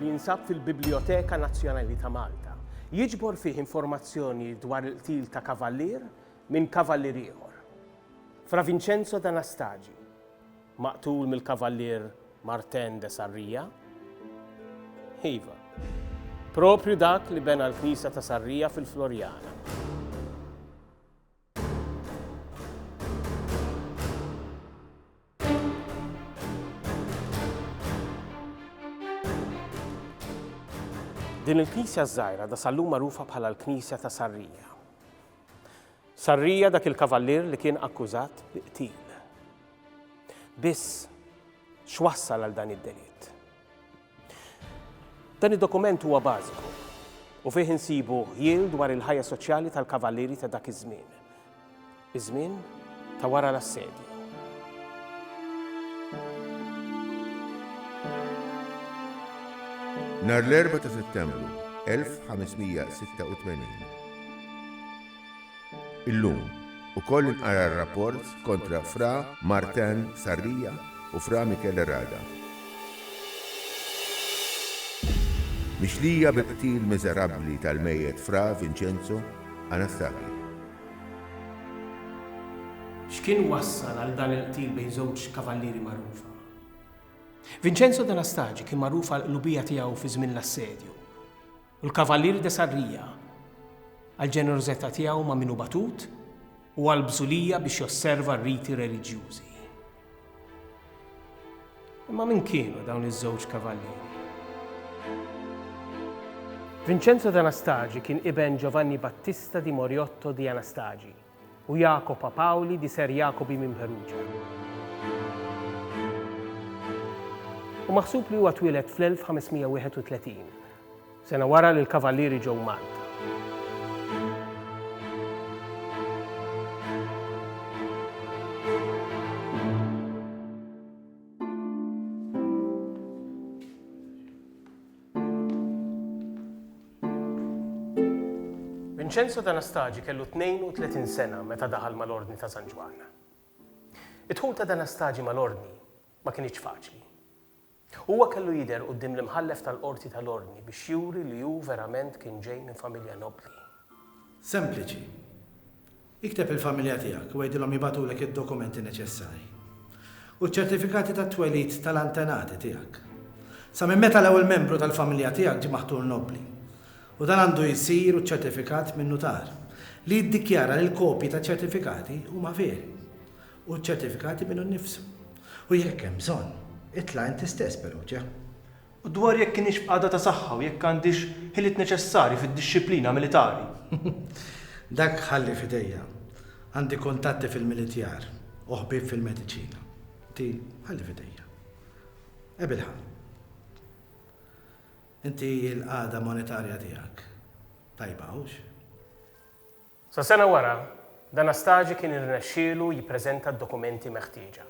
li jinsab fil-Biblijoteka Nazzjonali ta' Malta. Jiġbor fih informazzjoni dwar il-qtil ta' Kavallier minn Kavallier ieħor, Fra Vincenzo d'Anastagi, maqtul mill-Kavallier Martin de Sarria. Iva, proprju dak li bena l-Knisja ta' Sarria fil-Floriana. Din il-knisja żgħira da sallum magħrufa bħala l-knisja ta' Sarrija. Sarrija dak il-kavallier li kien akkużat bi qtil. Biss x'wassal għal dan id-delitt. Dan id-dokument huwa bażiku u fih insibu ħjiel dwar il-ħajja soċjali tal-kavallieri ta' dak iż-żmien, iż-żmien ta' wara l-assedju. Nhar l-4 ta' Settembru 1586, Illum, ukoll inqara r-rapport kontra Fra Martin Sarria u Fra Michele Rada. Mixlija bil-qtil miżerabbli tal-mejjet Fra Vincenzo Anastaghi. X'kien wassal għal dan il-qtil bejn żewġ kavallieri magħrufa? Vincenzo d'Anastaghi kien magħruf għall-qlubija tiegħu fi żmien l-assedju. u l-Kavalier de Sarria għall-ġenerożità tiegħu ma' min hu batut u għall-bżulija biex josserva r-riti reliġjużi. Imma min kienu dawn iż-żewġ kavallieri? Vincenzo d'Anastagi kien iben Giovanni Battista di Moriotto di Anastagi, u Jacopa Pauli di Ser Jacobi minn Perugia. U maħsub li huwa twieled fl-1531, sena wara li l-Kavallieri ġew Malta. Vincenzo d'Anastagi kellu 32 sena meta daħal mal-Ordni ta' San Ġwann. Id-dħul ta' d'Anastagi mal-Ordni ma kinitx faċli. Huwa kellu jidher quddiem l-imħallef tal-Qorti tal-Ordni biex juri li hu verament kien ġej minn familja nobbli. Sempliċi. Ikteb lill-familja tiegħek u għidilhom jibagħtulek id-dokumenti neċessarji u ċ-ċertifikati tat-twelid tal-antenati tiegħek. Sa minn meta l-ewwel membru tal-familja tiegħek ġie maħtur nobbli, u dan għandu jsir u ċċertifikat minn nutar, li jiddikjara li l-kopji taċ-ċertifikati huma veri, u ċ-ċertifikati minnu nnifsu. U jekk hemm bżonn, itla' inti stess peruġa. U dwar jekk kinitx b'qagħda ta' saħħa u jekk għandhiex ħiliet neċessarji fid-dixxiplina militari. Dak ħalli f'idejja. Għandi kuntatti fil-militjar u ħbieb fil-mediċina. Inti ħalli f'idejja. Ebilha. Inti l-qagħda monetarja tiegħek tajba, hux? Sa sena wara, D'Anastasi kien irnexxielu jippreżenta d-dokumenti meħtieġa,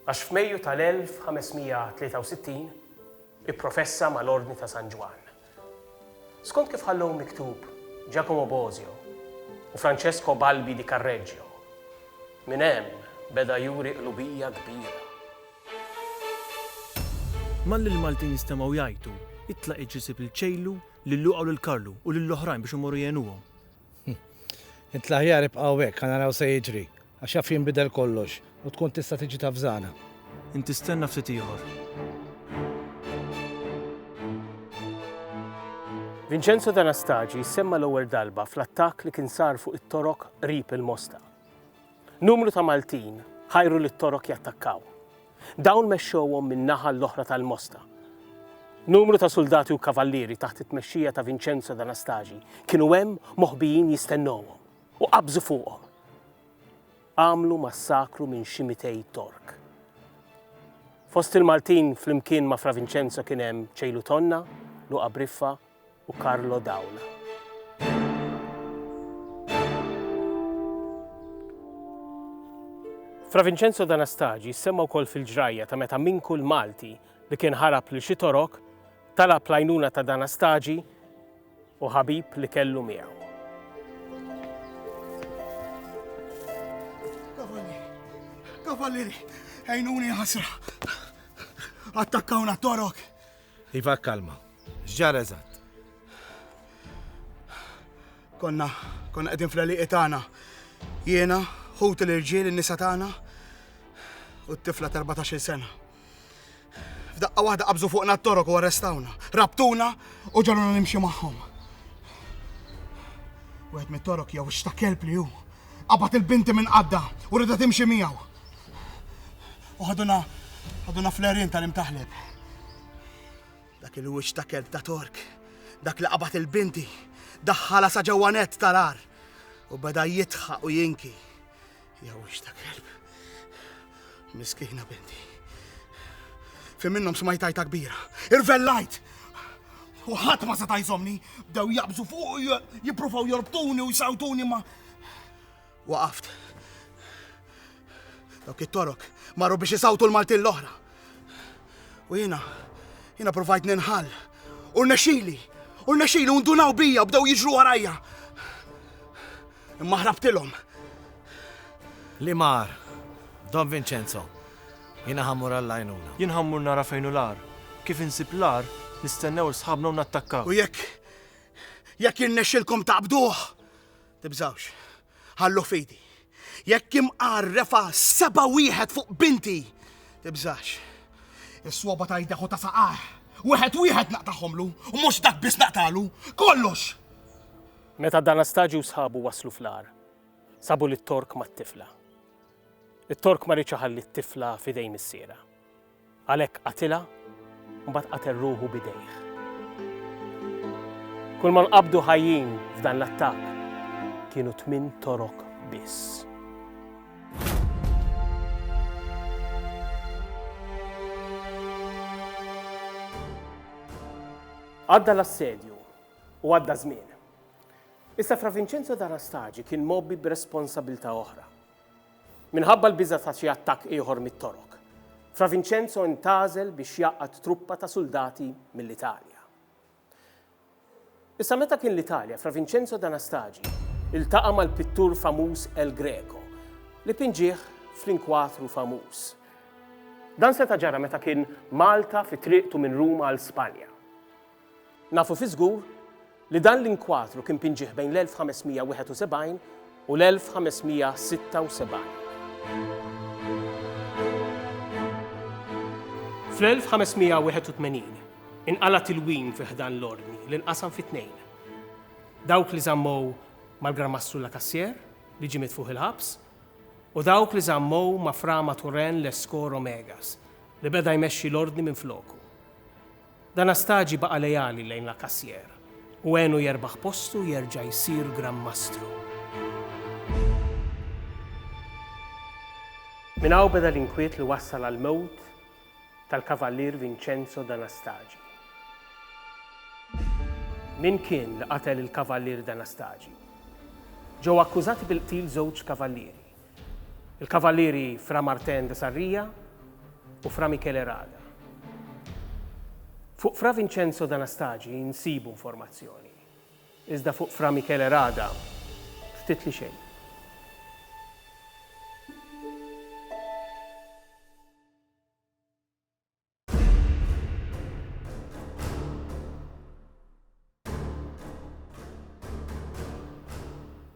għax f'Mejju tal-1563 ipprofessa mal-Ordni ta' San Ġwann. Skont kif ħallew miktub Giacomo Bosio u Francesco Balbi di Carreggio, minn hemm beda juri qlubija kbira. Malli l-Maltin stemgħu jgħajtu, Itlaq iġisib il-ċejlu, Lil Luqa u lil Karlu u lil oħrajn biex imorru jgħinuhom. Int l-aħjar ibqa' hawnhekk ħa naraw se jiġri, għax jaf jinbidel kollox u tkun tista' tiġi tavżana. Inti stenna ftit ieħor. Vincenzo D'Anastagi jissemma l-ewwel darba fl-attakk li kien sar fuq it-Torok qrib il-Mosta. Numru ta' Maltin ħajru lit-Torok jattakkaw. Dawn mexxewhom min-naħa l-oħra tal-Mosta. Numru ta' suldati u kavallieri taħt it-tmexxija ta' Vinċenzo d'Anastasi kienu hemm moħbijin jistennewhom u qabżu fuqhom. Għamlu massakru minn xi mitej Tork. Fost il-Maltin flimkien ma' Fra Vinċenzo kien hemm Ċejlu Tonna, Luqa Briffa, u Carlo Daula. Fra Vincenzo D'Anastagi semma wkoll fil-ġrajja ta' meta minn kull Malti li kien ħarab li xi torok talab lajnuna ta' D'Anastagi u ħabib li kellu miegħu. Kavallieri, ejnuni ħasra. Attakkawna torok Iva kkalma. X'ġara eżatt? Konna konna qegħdin fl-għelieqi tagħna. Jiena, ħuti l-irġiel, in-nisa tagħna u t-tifla ta' 14-il sena. F'daqqa waħda qabżu fuqna t-torok u arrestawna. Rabtuna u ġaluna nimxi magħhom. Wieħed mit-torok jew x'ta' kelb li hu. Qabad il-binti minn qadda u rida timxi miegħu. U ħaduna ħaduna fl-għerien tal-imtaħleb. Dak il-wiċċ ta' kelb ta' Tork, dak li qabad il-binti, daħħala sa ġewwa nett tal-għar u beda jitħaq u jinki. Jew wiċċ ta' kelb. Miskina binti. Fi minnhom smajtajta kbira. Irvellajt! U ħadd ma seta' jżomni, bdew jaqbżu fuq u jippruvaw jorbtuni u jsawtuni ma' Waqaft. Dawk it-torok marru biex isawtu l-Maltin l-oħra. U jiena, jiena provajt ninħall. U rnexxili, u rnexxili u ndunaw bija bdew jiġru warajja. Imma ħrabtilhom. Li mar, Don Vincenzo, jiena ħammur għall-għajnuna. Jien ħammur nara fejn u l-ar. Kif insib l-ar, nistennew sħabna u nattakkaw. U jekk, jekk jirnexxilkom taqbduh, Tibżgħux. Ħalluh f'idi. Jekk imqar refa' seba' wieħed fuq binti, tibżax. Is-swaba ta' idejh u ta' saqajh, wieħed wieħed naqtagħhomlu, u mhux dak biss naqtagħlu, kollox! Meta D'Anastagio u sħabu waslu fl-għar, sabu lit-Tork mat-tifla. It-Tork ma riedx iħalli t-tifla f'idejn missierha. Għalhekk qatilha, u mbagħad qatel ruħu b'idejh. Kulma nqabdu ħajjin f'dan l-attakk kienu tmien torok biss. Għadda l-assedju u għadda żmien. Issa Fra Vincenzo D'Anastagi kien mobbi b'responsabilità oħra. Minħabba l-biża' ta' xi attakk ieħor mit-Torok, Fra Vinċenzo intgħażel biex jgħaqqad truppa ta' suldati mill-Italja. Issa meta kien l-Italja, Fra Vinċenzo d'Anastagi ltaqa' mal-pittur famuż El Greco, li pinġieh fl-inkwatru famuż. Dan seta' ġara meta kien Malta fi triqtu minn Ruma għal Spanja. Nafu fiż-żgur li dan l-inkwadru kien pinġieħ bejn l-1571 u l-1576. Fl-1581 inqala' tilwim fi ħdan l-Ordni li nqasam fi tnejn, dawk li żammow mal-Gran Mastru Lacassière li ġie mitfugħ il-ħabs u dawk li żammow ma' Fra Mathurin Lescot Romegas li beda jmexxi l-Ordni minfloku. Dan Astagi baqa' leali lejn Lacassière u għenu jerbaħ postu jerġa' jsir Gran Mastru. Minn hawn beda l-inkwiet li wassal għall-mewt tal-Kavallier Vincenzo d'Anastagi. Min kien li qatel il-Kavallier d'Anastagi? Ġew akkużati bil-qtil żewġ Kavallieri. Il-Kavalieri Fra Martin de Sarria u Fra Michele Rada. Fuq Fra Vincenzo d'Anastagi nsibu informazzjoni, iżda fuq Fra Michele Rada ftit li xejn.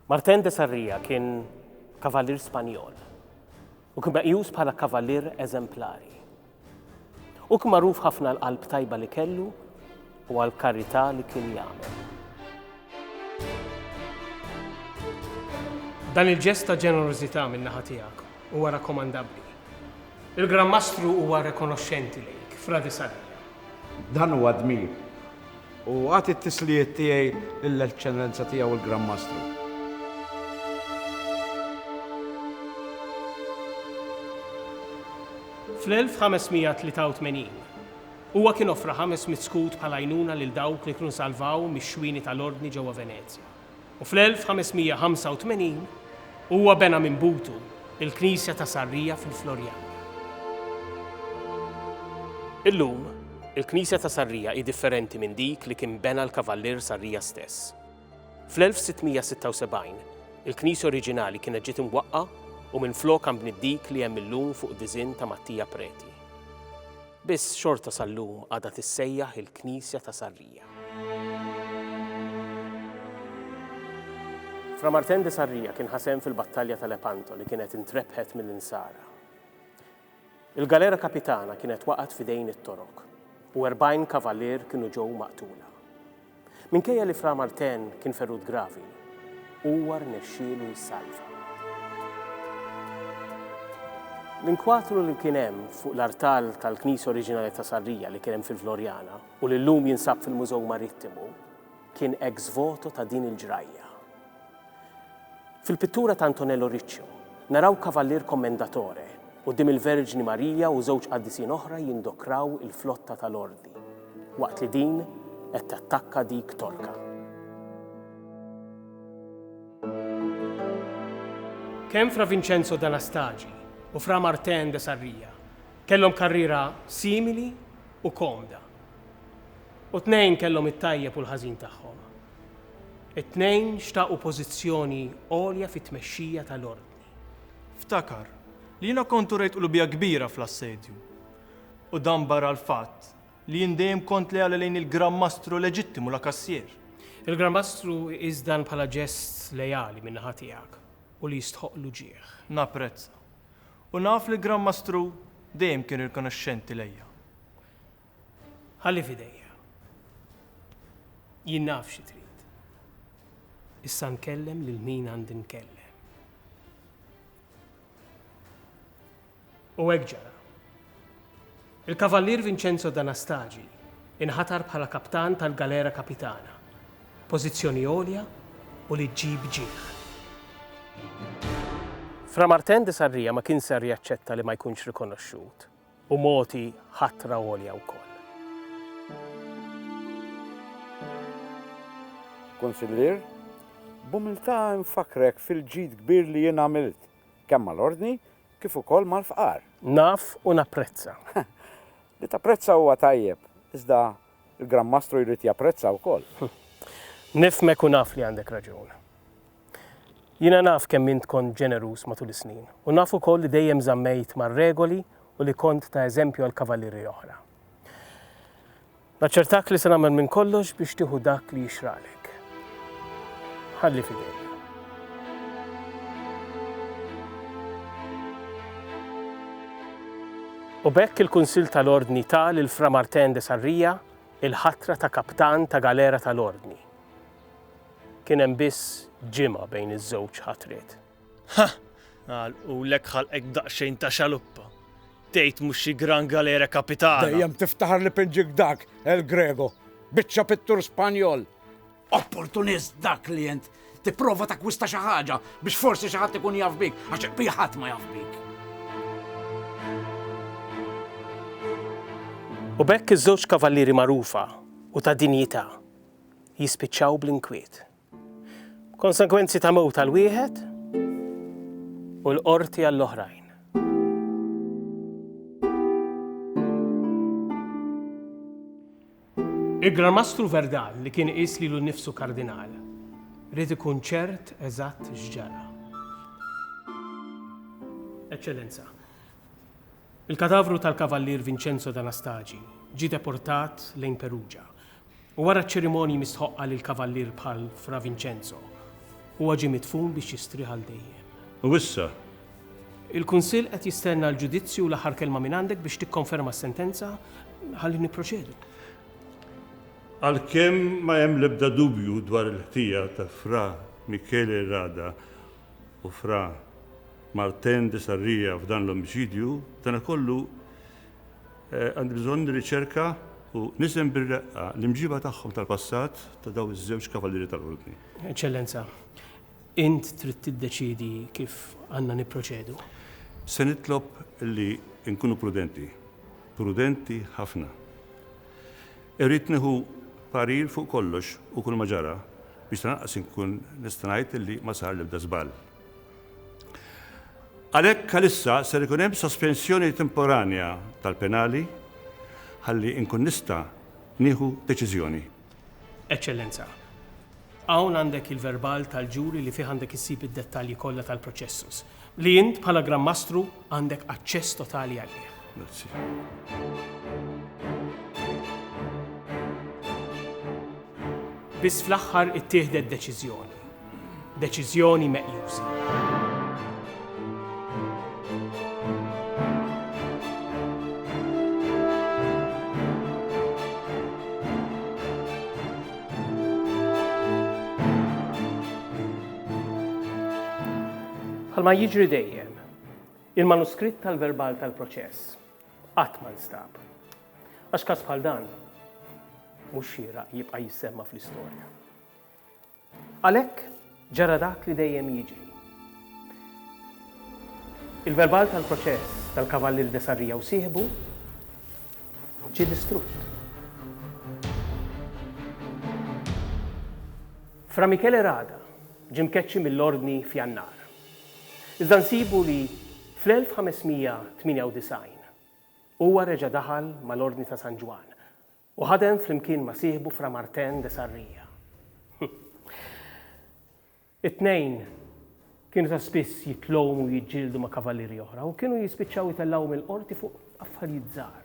Martin de Sarria kien kavallier Spanjol u kien meqjus bħala kavallier eżemplari. U kien magħruf ħafna l-qalb tajba li kellu u għall-karità li kien jagħmel. Dan il-ġest ta' ġenerożità min-naħa tiegħek huwa rakkomandabbli. Il-Gran Mastru huwa rikonoxxenti lejk, Fra de Sarria. Dan huwa dmir. U agħti t-tislijiet tiegħi lill-Eċċellenza Tiegħu l-Gran Mastru. Fl-1583, Huwa kien offra ħames mitt skud bħala għajnuna lil dawk li kienu salvaw mix-xwieni tal-Ordni ġewwa Venezja, u fl-1585 huwa bena minn butu l-knisja ta' Sarria fil-Floriana. Illum, il-knisja ta' Sarria hi differenti minn dik li kien bena l-Kavallier Sarria stess. Fl-1676, il-knisja oriġinali kienet ġiet imwaqqa u minflokha nbniet dik li hemm illum fuq diżinn ta' Mattia Preti. Biss xorta sal-lum għadha tissejjaħ il-Knisja ta' Sarrija. Fra Martin de Sarrija kien ħa sehem fil-Battalja ta' Lepanto li kienet intrebħet mill-Insara. Il-galera kapitana kienet waqgħet f'idejn it-Torok u 40 kavalier kienu ġew maqtula. Minkejja li Fra Martin kien ferut gravi, huwa rnexxielu jissalva. L-inkwatru li kien hemm fuq l-artal tal-Knisja Oriġinali ta' Sarrija li kien hemm fil-Floriana u li llum jinsab fil-Mużew Marittimu kien ex voto ta' din il-ġrajja. Fil-pittura ta' Antonello Riccio, naraw Kavallier Commendatore quddiem il-Verġni Marija u żewġ qaddisin oħra jindokraw il-flotta tal-Ordi waqt li din qed tattakka dik Torka. Kemm Fra Vincenzo d'Anastagi u Fra Martin de Sarria kellhom karriera simili u komda U t-tnejn kellhom it-tajjeb u l-ħażin tagħhom. It-tnejn xtaqu pożizzjoni għolja fit-tmexxija tal-Ordni. Ftakar li jiena kont urejt qlubija kbira fl-assedju. U dan barra l-fatt li jien dejjem kont leali lejn il-Gran Mastru leġittimu La Cassière. Il-Gran Mastru iqis dan bħala ġest leali min-naħa tiegħek u li jistħoqq l-uġigħ. Napprezza. U naf li l-Gran Mastru dejjem kien rikonoxxenti lejja. Ħalli f'idejja. Jien naf xi trid. Issa nkellem lil min għandi nkellem. U hekk ġara. Il-Kavallier Vincenzo D'Anastagi inħatar bħala kaptan tal-Galera Kapitana, pożizzjoni għolja u li ġġib ġieħ. Fra Martin de Sarria ma kien ser jaċċetta li ma jkunx rikonoxxut. u mogħti ħatra għolja wkoll. Kunsillier, b'umiltà infakkrek fil-ġid kbir li jien għamilt, kemm mal-Ordni kif ukoll mal-fqar. Naf u napprezza. Li tapprezza huwa tajjeb, iżda Il-Gran Mastru jrid japprezza wkoll. Nifhmek u naf li għandek raġun. Jiena naf kemm int kont ġeneruż matul is-snin u naf ukoll li dejjem żammejt mar-regoli u li kont ta' eżempju għal kavallieri oħra. Naċċertak li se nagħmel minn kollox biex tieħu dak li jixraqlek. Ħalli fidejk. U bekk il-Kunsill tal-Ordni ta' lil Fra Martin de Sarrija il-ħatra ta' kaptan ta' galera tal-Ordni. Kien hemm biss ġimgħa bejn iż-żewġ ħatriet. Ha! Għalqulek ħalqek b'daqsxejn ta' xaluppa. Tgħid mhux xi gran galera kapitana. Dejjem tiftaħar li pinġik dak, El Grego. Biċċa pittur Spanjol. Opportunist dak li int. Tipprova takwista xi ħaġa biex forsi xi ħadd ikun jaf bik, għax qbih ħadd ma jaf bik. U bekk iż-żewġ kavallieri magħrufa u ta' dinjità jispiċċaw bl-inkwiet. Konsegwenzi ta' mewt għal wieħed u l-qorti għall-oħrajn. Il-Gran Mastru Verdal li kien iqis lilu nnifsu kardinal, rrid ikun ċert eżatt x'ġara. Eċċellenza, il-kadavru tal-Kavallier Vincenzo D'Anastagi ġie deportat lejn Perugia U wara ċ-ċerimonji mistħoqqa lill-Kavallier bħal Fra Vincenzo, huwa ġie midfun biex jistrieħ għal dejjem. U issa? Il-Kunsill qed jistenna l-ġudizzju u l-aħħar kelma mingħandek biex tikkonferma s-sentenza ħalli nipproċedu. Għalkemm ma hemm l-ebda dubju dwar il-ħtija ta' Fra Michele Rada u Fra Martin de Sarria f'dan l-omiċidju, danakollu Għandi bżonn nirriċerka u niżen bir-reqqa l-imġiba tagħhom tal-passat ta' dawn iż-żewġ Kavalieri tal-Ordni. Eċċellenza, int trid tiddeċiedi kif għandna nipproċedu. Se nitlob li nkunu prudenti, prudenti ħafna. Irrid nieħu parir fuq kollox u kulma ġara biex tanaqqas inkun nista' ngħid li ma sar l-ebda żball. Għalhekk għalissa ser ikun hemm sospensjoni temporanja tal-penali ħalli nkun nista' nieħu deċiżjoni. Eċċellenza, hawn għandek il-verbal tal-ġuri li fih għandek issib id-dettalji kollha tal-proċessus, li int bħala Gran Mastru Għandek aċċess totali għalih. Grazzi. Biss fl-aħħar ittieħdet deċiżjoni. Deċiżjoni meqjusa. Bħalma jiġri dejjem, Il-manuskritt tal-verbal tal-proċess qatt ma nstab. Għax każ bħal dan mhux xieraq jibqa' jissemma fl-istorja. Għalhekk ġara dak li dejjem jiġri. Il-verbal tal-proċess tal-Kavallieri de Sarrija u sieħbu ġie distrutt. Fra Michele Rada ġie mkeċċi mill-Ordni f'Jannar. Iżda nsibu li fl-1598 huwa reġa' daħal mal-Ordni ta' San Ġwann u ħadem flimkien ma' sieħbu Fra Martin de Sarria. It-tnejn kienu ta' spiss jitlgħum u jiġġieldu ma' kavallieri oħra u kienu jispiċċaw itellgħuhom il-qorti fuq affarijiet żgħar.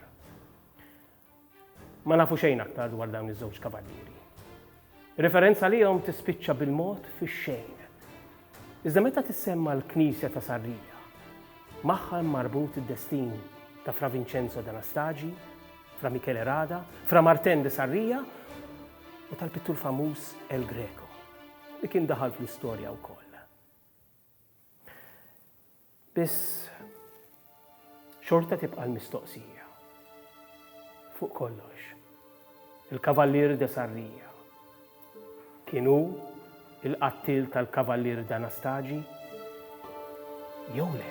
Ma nafu xejn aktar dwar dawn iż-żewġ kavallieri. Referenza għalihom tispiċċa bil-mod fix-xejn. Iżda meta tissemma l-knisja ta' Sarria, magħha hemm marbut id-destin ta' Fra Vincenzo d'Anastagi, Fra Michele Rada, Fra Martin de Sarria u tal-pittur famuż El Greco, li kien daħal fl-istorja wkoll. Biss xorta tibqa' l-mistoqsija. Fuq kollox, il-Kavallier de Sarria kien hu l-qattiel tal-Kavallier d'Anastagi jew le?